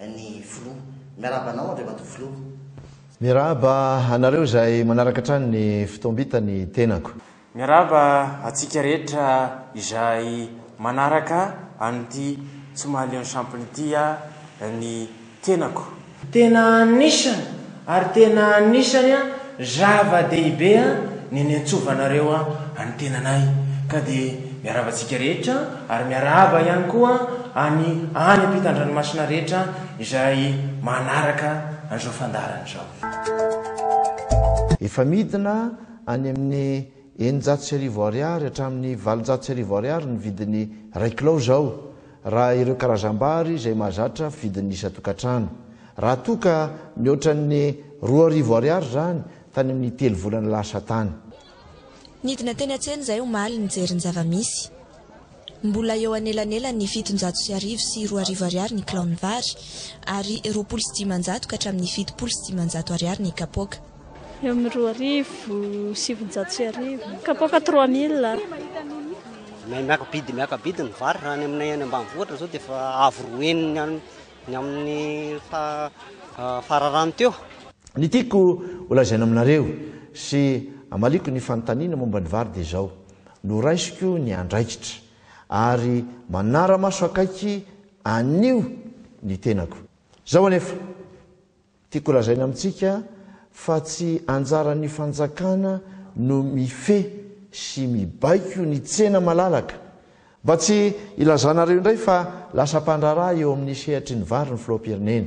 ny filoha. Miarahaba anao Andriamatoa Filoha. Miarahaba anareo izay manaraka hatrany ny fotoam-bita ny tenako. Miarahaba antsika rehetra izay manaraka an'ity Tsomahalion'ny Sampona ity ny tenako. Tena anisany Ary tena anisany zava-dehibe ny niantsovanareo an'i tenanay, ka dia miarahaba antsika rehetra, ary miarahaba ihany koa any any ampitan-dranomasina rehetra izay manaraka an'izao fandaharana izao. Efa midina any amin'ny eninjato sy arivo Ariary hatramin'ny valonjato sy arivo Ariary ny vidin'ny iray kilao izao, raha ireo karazam-bary izay mahazatra vidin'ny isan-tokantrano. Raha toa ka mihoatra ny roa arivo ariary izany tany amin'ny telo volana lasa tany. Nidina teny an-tsena izahay omaly nijery ny zava-misy. Mbola eo anelanelan'ny fitonjato sy arivo sy roa arivo ariary ny kilaon'ny vary, ary roapolo sy dimanjato ka hatramin'ny fitopolo sy dimanjato ariary ny kapoaka. Eo amin'ny roa arivo, sivinjato sy arivo. Kapoaka trois mille. May miaka-bidy miaka-bidy ny vary raha any aminay any ambanivohitra izao dia efa avo roa enina any ny amin'ny fararano teo. Ny tiako holazaina aminareo sy hamaliako ny fanontaniana momba ny vary dia izao, noraisiko ny andraikitra ary manara-maso akaiky anio ny tenako. Izao anefa. Tiako holazaina amintsika fa tsy anjaran'ny fanjakana no mifehy sy mibaiko ny tsena malalaka. Mba tsy hilazanareo indray fa lasa mpandraharaha eo amin'ny sehatry ny vary ny filoham-pirenena.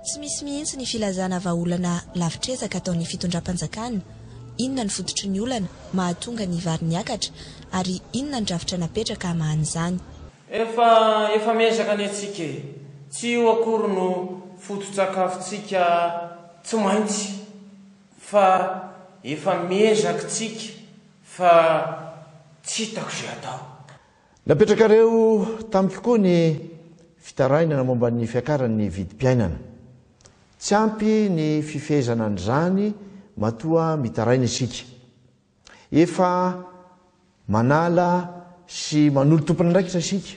Tsy misy mihitsy ny filazana vahaolana lavitr'ezaka ataon'ny fitondram-panjakana, inona ny fototry ny olana mahatonga ny vary niakatra ary inona ny drafitra napetraka hamahan'izany. Efa efa miezaka anie tsika e! Tsy io akory no foto-tsakafontsika tsy maintsy fa efa miezaky tsika fa tsy hitako ze atao. Napetrakareo tamiko koa ny fitarainana momba ny fiakaran'ny vidim-piainana. Tsy ampy ny fifehezana an'izany matoa mitaraina isika. Efa manala sy manolo tompon'andraikitra isika,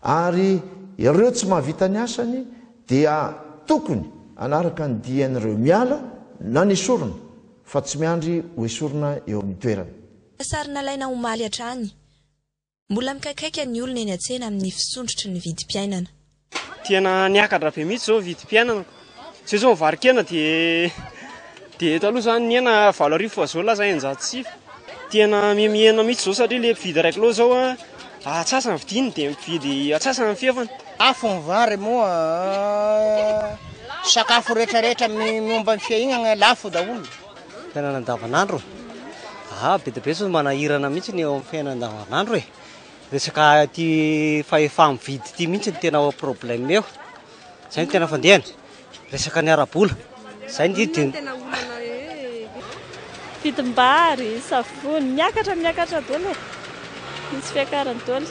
ary ireo tsy mahavita ny asany dia tokony hanaraka ny dian'ireo miala na nesorina fa tsy miandry ho esorina eo amin'ny toerany. Sary nalaina omaly hatrany. Mbola mikaikaika ny olona eny an-tsena amin'ny fisondrotry ny vidim-piainana. Tena niakatra be mihitsy izao ny vidim-piainana. Izao izao ny varo-kena dia dia eto aloha izany ny hena valo arivo fa izao lasa eninjato sy sivy. Tena mihemihena mihitsy izao satria ilay mpividy iray kilao izao atsasa ny vidiny dia mividy atsasa ny fefany. Afo ny vary moa sakafo rehetrarehetra momba ny fiainana lafo daholo. Fiainana andavanandro, ah be dia be zao manahirana mihitsy ny eo amin'ny fiainana andavanandro e, resaka ity fahefa-mividy ity mihitsy no tena problème eo, izay no tena fandehany, resaka ny ara-bola, izay ny tena olana e, vidim-bary, savony, miakatra miakatra daholo e, misy fiakarany daholo.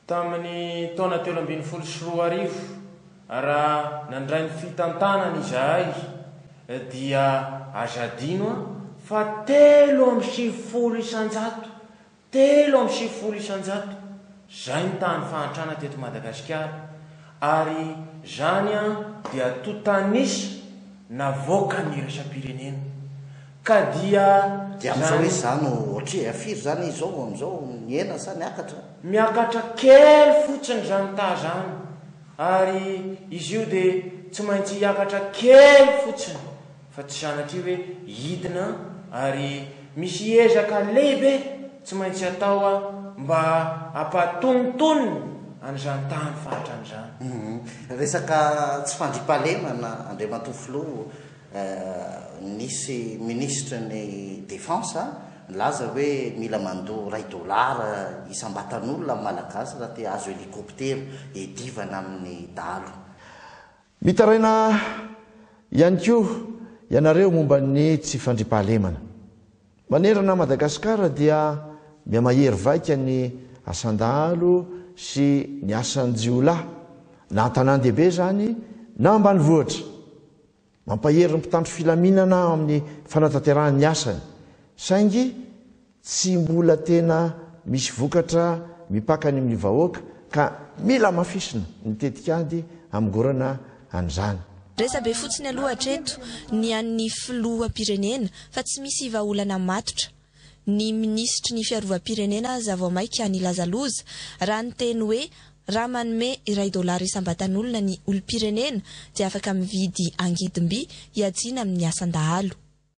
Tamin'ny taona telo ambin'ny folo sy roa arivo, raha nandray ny fitantanana izahay, dia aza adino fa telo amby sivifolo isan-jato, telo amby sivifolo isan-jato, izay nitaha ny fahantrana teto Madagasikara. Ary zany an dia to tanisa navoaka ny iraisam-pirenena. Ka dia. Dia amizao hoe za no otri a firy zany izao vao amizao nihena sa niakatra? Miakatra kely fotsiny zany ta zany ary izy io dia tsy maintsy hiakatra kely fotsiny. fa tsy sanatria hoe hidina ary misy ezaka lehibe tsy maintsy atao mba hampahatonontonona an'izany tany fatrany izany. Resaka tsy fandriampahalemana Andriamatoa Filoha eh, nisy Ministre ny Défense nilaza hoe mila mandoa iray dollars isam-batan'olona ny Malagasy raha te hahazo helicoptera hiadivana amin'ny dahalo. Mitaraina ihany koa ianareo momba ny tsy fandriampahalemana. Manerana an'i Madagasikara dia mihamahery vaika ny asan-dahalo sy ny asan-jiolahy na an-tanàn-dehibe izany na ambanivohitra. Mampahery ny mpitandro filaminana amin'ny fanatanterahany ny asany saingy, Tsy mbola tena misy vokatra mipaka any amin'ny vahoaka ka mila hamafisina ny tetikady hamongorana an'izany. Resabe fotsiny aloha hatreto ny an'ny filoham-pirenena fa tsy misy vahaolana matotra. Ny minisitry ny fiarovam-pirenena aza vao maika nilaza loza raha niteny hoe raha manome iray dolara isam-batan'olona ny olom-pirenena dia afaka mividy angidim-by hiajiana amin'ny asan-dahalo.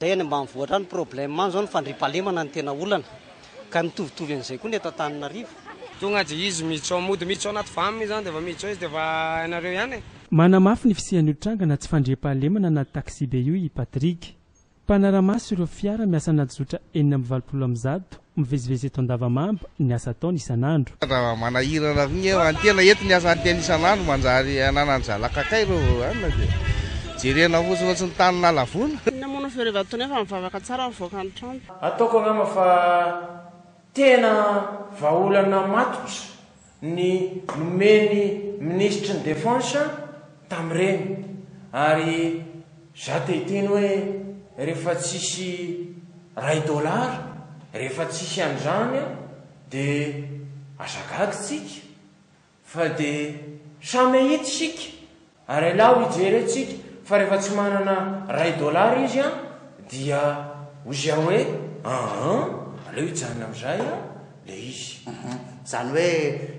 Dia any ambanivohitra any problème any zao ny fandriampahalemana no tena olana. Ka mitovitovy an'izay koa ny eto Antananarivo. Tonga dia izy miditra mody miditra ao anaty vam izany dia vao miditra ao izy dia efa hainareo ihany e. Manamafy ny fisian'io tranga na tsy fandriampahalemana anaty taxibe io i Patrick. Mpanara-maso ireo fiara miasa anaty zotra enina amby valopolo amin'ny zato Mivezivezy eto Andavamamba ny asa ataony isan'andro. Raha manahirana avy ny any tena eto ny asa any tena isan'andro manjary ananan'ny zanakakay ireo any dia jerena fotsiny ohatry ny tany nalavoina. Inona moa no fiarevan'itony efa mivavaka tsara ny mivoaka ny trano. Ataoko angamba fa tena vahaolana matotra ny nomeny minisitry ny defense tamin'ireny ary za te hiteny hoe rehefa tsisy ray dollars rehefa tsisy an'izany de aza gaga tsika fa de samy ahita isika Ary alao hijery antsika fa rehefa tsy manana ray dollars izy an, dia hoy izy hoe ahan, aleo hijanona amin'izay an, ilay izy. Uhum. Izany hoe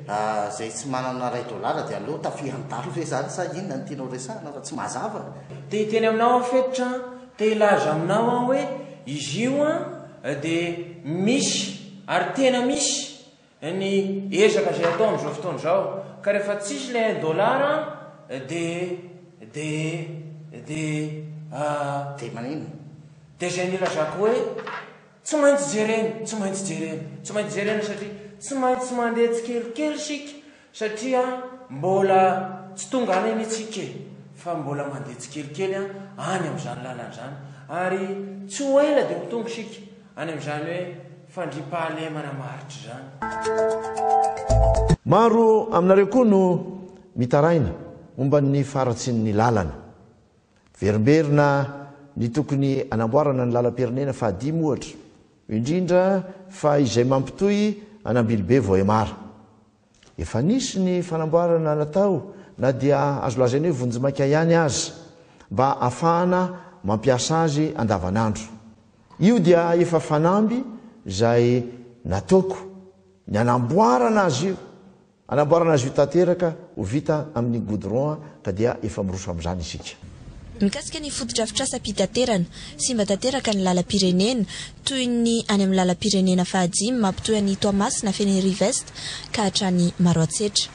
izay tsy manana ray dollars dia aleo tafihan-dahalo ve izany sa inona no tianao resahina fa tsy mazava e? Te hiteny aminao aho Fetitra an, te hilaza aminao aho hoe izy io an dia misy ary tena misy. ny ezaka izay atao amin'izao fotoana izao ka rehefa tsisy ilay un dollar de de de ah Dia maninona? Dia izay nilazako hoe tsy maintsy jerena, tsy maintsy jerena, tsy maintsy jerena satria tsy maintsy mandeha tsikelikely isika. Satria mbola tsy tonga any anie tsika e, fa mbola mandeha tsikelikely any amin'izany lalana izany, ary tsy ho ela dia ho tonga isika any amin'izany hoe fandriampahalemana maharitra izany. Maro aminareo koa no mitaraina momba ny faharatsian'ny lalana. Miverimberina ny tokony hanamboarana ny lalam-pirenena fahadimy ohatra. indrindra fa izay mampitohy an'Ambilobe Vohemara. Efa nisy ny fanamboarana natao na dia azo lazaina hoe vonjimaika ihany aza mba afahana mampiasa azy andavanandro. Io dia efa fanamby izay nataoko ny anamboarana azy io. Anamboarana azy io tanteraka ho vita amin'ny goudron ka dia efa miroso amin'izany isika. Mikasika ny fotodrafitrasam-pitaterana, simba tanteraka ny lalam-pirenena, toy ny any amin'ny lalam-pirenena fahadimy mampitohy an'i Toamasina Fenerive-Est ka hatrany Maroantsetra.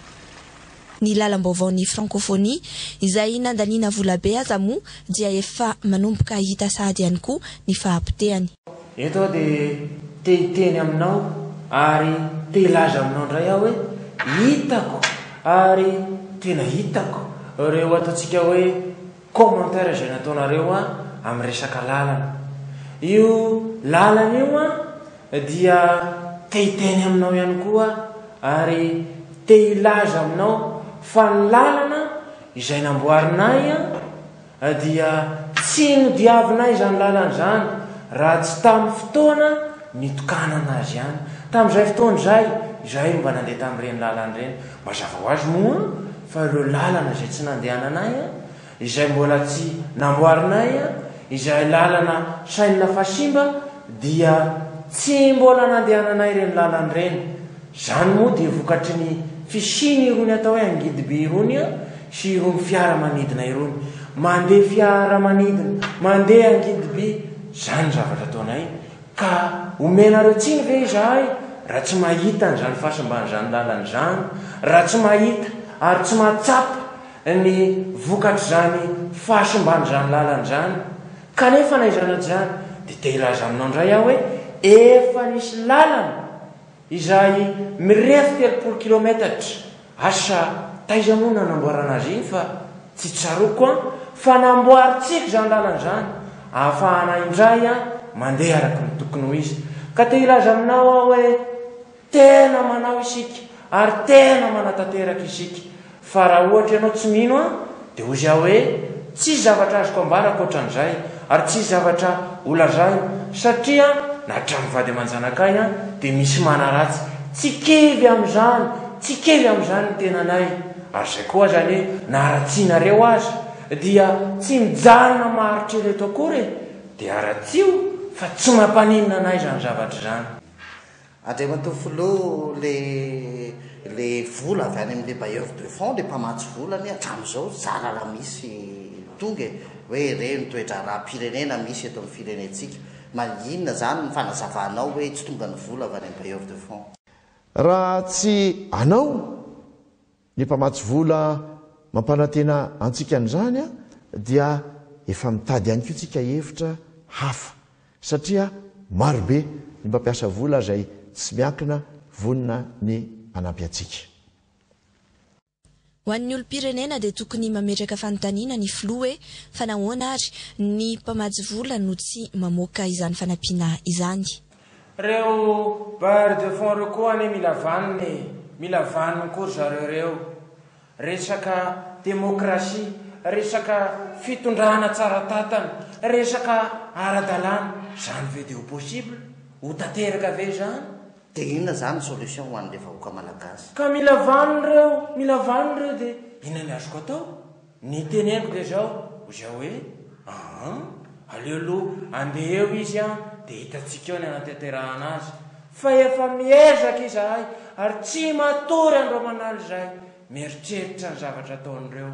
Ny lalam-baovaon'ny Francophonie, izay nandaniana volabe aza moa dia efa manomboka hita sahady ihany koa ny fahapotehany. Eto aho dia te hiteny aminao ary te hilaza aminao indray aho hoe hitako ary tena hitako ireo ataontsika hoe commentaires izay nataonareo ahy amin'ny resaka lalana. Io lalana io aho dia te hiteny aminao ihany koa aho ary te hilaza aminao fa ny lalana izay namboarinay dia tsy nodiavina izany lalana izany raha tsy tamin'ny fotoana nitokanana azy ihany. Tamin'izay fotoana izay, izahay no mba nandeha tamin'ireny lalana ireny. Mazava ho azy moa fa ireo lalana izay tsy nandehananay, izay mbola tsy namboarinay, izay lalana sainina fa simba, dia tsy mbola nandehananay ireny lalana ireny. Izany moa dia vokatry ny fisian' irony atao hoe angidibe irony eo sy irony fiaramanidina irony. Mandeha fiaramanidina, mandeha angidibe, izany ny zavatra ataonay, ka omenareo tsiny ve izahay raha tsy mahita an' izany fahasimban' izany lalana izany, raha tsy mahita ary tsy mahatsapa ny vokatr' izany fahasimban' izany lalana izany? Kanefa na izany na tsy izany dia te-hilaza aminao indray aho hoe efa nisy lalana izay mirefy telopolo kilometatra, asa taiza moa no hanamboarana azy iny fa tsy tsaroako an, fa namboarintsika izany lalana izany ahafahana indray an mandeha araka ny tokony ho izy, ka te hilaza aminao aho hoe tena manao isika ary tena manatanteraka isika. Fa raha ohatra ianao tsy mino Ahy, dia hozy Aho hoe, Tsisy zavatra azoko ambara ankoatran'izay, ary tsisy zavatra holazaina, satria na hatramin'ny vady aman-janakay dia misy manaratsy. Tsy kivy amin'izany, tsy kivy amin'izany ny tenanay. Ary izay koa aza anie na haratsianareo aza, dia tsy mijanona maharitra ereto akory e! Dia haratsio, fa tsy mampaninona anay izany zavatra izany. Andriamatoa Filoha, ilay le vola avy any amin'ilay bailleur de fonds, ilay mpamatsy vola anie hatramin'izao zara raha misy tonga e! hoe re ny toe-draharaham-pirenena misy eto amin'ny firenentsika. Ma inona izany ny fanazavanao hoe tsy tonga ny vola avy any amin'ny bailleur de fonds? Raha tsy anao? Ny mpamatsy vola mampanantena antsika an'izany dia efa mitady ihany koa tsika hevitra hafa satria marobe ny mpampiasa vola izay tsy miankina vonona ny hanampy antsika. Ho an'ny olom-pirenena dia tokony mametraka fanontaniana ny filoha hoe fa nahoana ary ny mpamatsy vola no tsy mamoaka izany fanampiana izany. Reo bailleurs de fonds reo koa anie mila vanona e, mila vanony koa ry zareo reo. Resaka demokrasia, resaka fitondrana tsara tatana, resaka ara-dalàna, zany ve de ho possible? Ho tanteraka ve zany? De inona zany ny solution ho an'le vahoaka malagasy? Ka mila vanony reo, mila vanony reo de inona ny azoko atao? Ny teneniko dia izao, izay hoe, aa, aleo aloha andeha eo izy an, dia hitantsika eo ny hanatanterahana azy. Fa efa miezaka izahay, ary tsy matory an'ireo manala izay, mieritreritra ny zavatra ataon'ireo.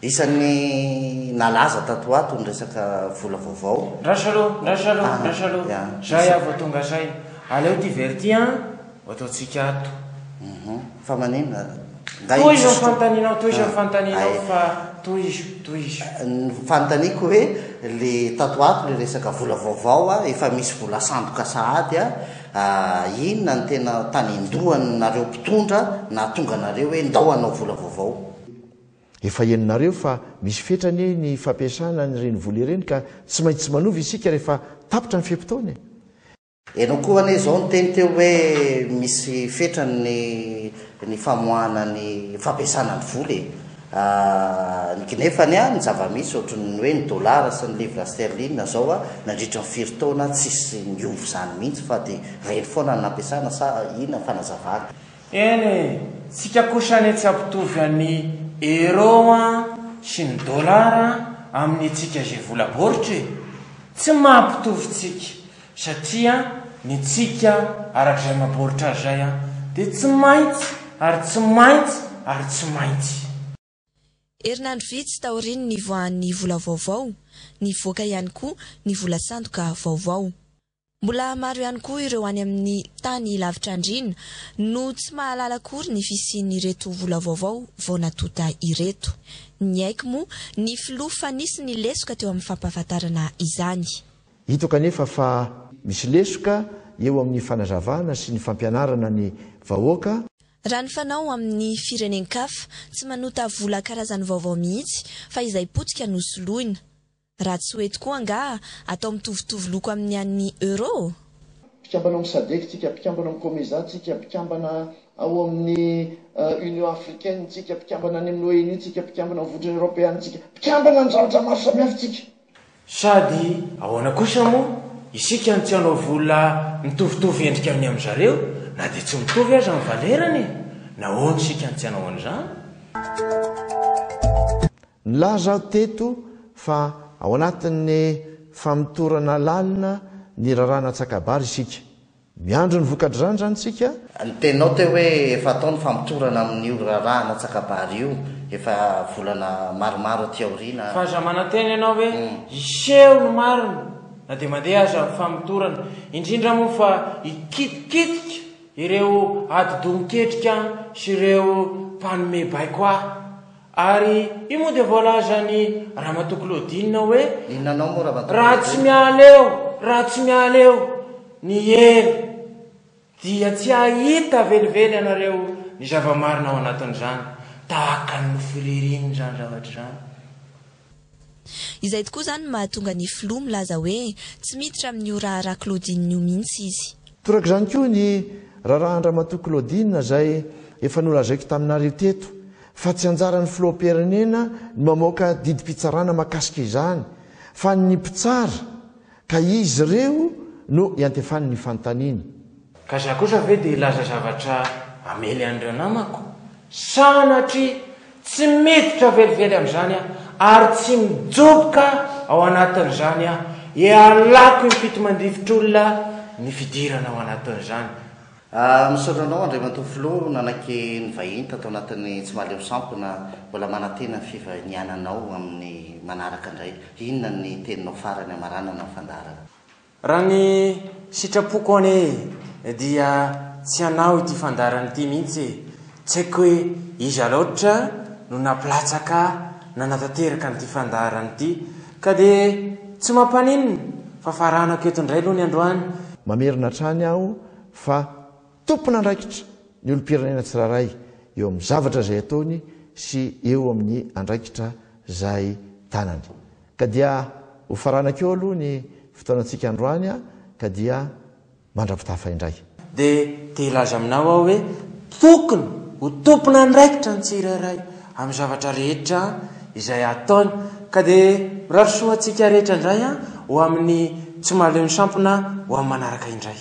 Isan'ny nalaza tato ho ato ny resaka vola vaovao. Ndraso aloha, ndraso aloha, ndraso aloha, zay aho vao tonga saina. Aleo ity very ity an. Ho ataontsika ato. Uhum. Fa maninona ary? Ngah io tsisy tompoko? Tohizo ny fanontanianao, tohizo ny fanontanianao Ay. fa tohizo, tohizo. Ny fanontaniako hoe le tato ato le resaka vola vaovao a, efa misy vola sandoka sahady a, inona no tena tanin-dohan nareo mpitondra nahatonga anareo hoe ndao hanao vola vaovao? Efa henonareo fa misy fetra anie ny fampiasana an'ireny vola ireny ka tsy maintsy manova isika rehefa tapitra ny fe-potoana e! Ianao koa anie izao niteny teo hoe misy fetrany ny ny famoahana ny fampiasana ny vola e. Ny gnefany a, ny zava-misy ohatry ny hoe ny dollars sy ny livres sterlines izao a, nandritry ny firy taona tsisy niova izany mihitsy fa dia ireny foana no nampiasana sa inona ny fanazavana? Eny e, tsika kosa anie tsy ampitovy an'i euro a sy ny dollars amin'ny antsika izay vola baoritra e. Tsy mampitovy tsika Satria ny tsika arak'izay mabaoritra azy izay dia tsy maintsy ary tsy maintsy ary tsy maintsy. Herinandro vitsy taorian'ny nivoahan'ny vola vaovao, nivoaka ihany koa ny vola sandoka vaovao. Mbola maro ihany koa ireo any amin'ny tany lavitra andriana no tsy mahalala akory ny fisian'ireto vola vaovao vao natonta ireto. Niaiky moa ny filoha fa nisy ny lesoka teo amin'ny fampahafantarana izany. Hito kanefa fa misy lesoka eo amin'ny fanazavana sy ny fampianarana ny vahoaka. Raha ny fanao amin'ny firenen-kafa, tsy manota vola karazany vaovao mihitsy fa izay potika no soloina. Raha tsy ho eto koa angaha atao mitovitovy loko amin'ny an'ny Euro? Mpikambana ao amin'ny Sadec tsika, mpikambana ao amin'ny Comesa tsika, mpikambana ao amin'ny Union Africaine tsika, mpikambana any amin'ny ONU tsika, mpikambana ao amin'ny Vondrona Eoropeana tsika, mpikambana amin'ny zavatra maro samihafa tsika. Sady ahoana kosa moa isika no tsy hanao vola mitovitovy endrika amin'ny amin'i zareo na dia tsy mitovy aza ny valerany e! Nahoana isika no tsy hanao an'izany? Nilaza aho teto fa ao anatin'ny famotorana lalina ny raharaha natsaka-bary isika. Miandry ny voka-dran zany tsika. Ny teninao teo hoe efa atao ny famotorana amin'io raharaha anatsakabary io efa volana maromaro aty aoriana. Fa aza manantena ianao hoe hiseho ny marina na dia mandeha aza ny famotorana, indrindra moa fa hikitikitika ireo adi-doha miketrika sy ireo mpanome baiko ahy. Ary io moa dia voalazan'i Ramatoa Claudine hoe, Inona anao moa Ramatoa Claudine? Raha tsy miala eo, raha tsy miala eo ny hery dia tsy hahita velively ianareo ny zava-marina ao anatin'izany, tahaka ny nofy ririny izany zavatra izany. Izay tokoa izany no mahatonga ny filoha milaza hoe tsy miditra amin'io raharaha Claudine io mihitsy izy. Toraka izany koa ny raharahan-dramatoa Claudine izay efa nolazaiko taminareo teto fa tsy anjaran'ny filoham-pirenena ny mamoaka didim-pitsarana mahakasika izany fa ny mpitsara Ka izy ireo no iantefany ny fanontaniany. Ka za kosa ve dia hilaza zavatra hamely an'ireo namako? Sanatria tsy miditra velively amin'izany aho ary tsy mijoboka ao anatin'izany aho, hialako im-pito mandrivitr'olona ny fidirana ao anatin'izany. Ah, misaotra anao Andriamatoa Filoha nanaiky nivahiny tato anatin'ny Tsy Malemy Sampona, mbola manantena ny fivahiniananao amin'ny manaraka indray. Inona ny teninao farany hamaranana ny fandaharana? Raha ny sitrapoko anie dia tsy hanao ity fandaharana ity mihitsy e! Tsy haiko hoe iza loatra no nampilatsaka nanatanteraka an'ity fandaharana ity ka dia tsy mampaninona fa faranako eto indray aloha ny androany. Mamerina hatrany aho fa tompon'andraikitra ny olom-pirenena tsirairay eo amin'ny zavatra izay ataony sy eo amin'ny andraikitra izay tanany. Ka dia ho faranako eo aloha ny fotoanantsika androany ka dia mandra-pitafa indray. Dia te-hilaza aminao aho hoe tokony ho tompon'andraikitra ny tsirairay amin'ny zavatra rehetra izay ataony ka dia mirary soa antsika rehetra indray ho amin'ny tsy mahaleo ny sampona ho amin'ny manaraka indray.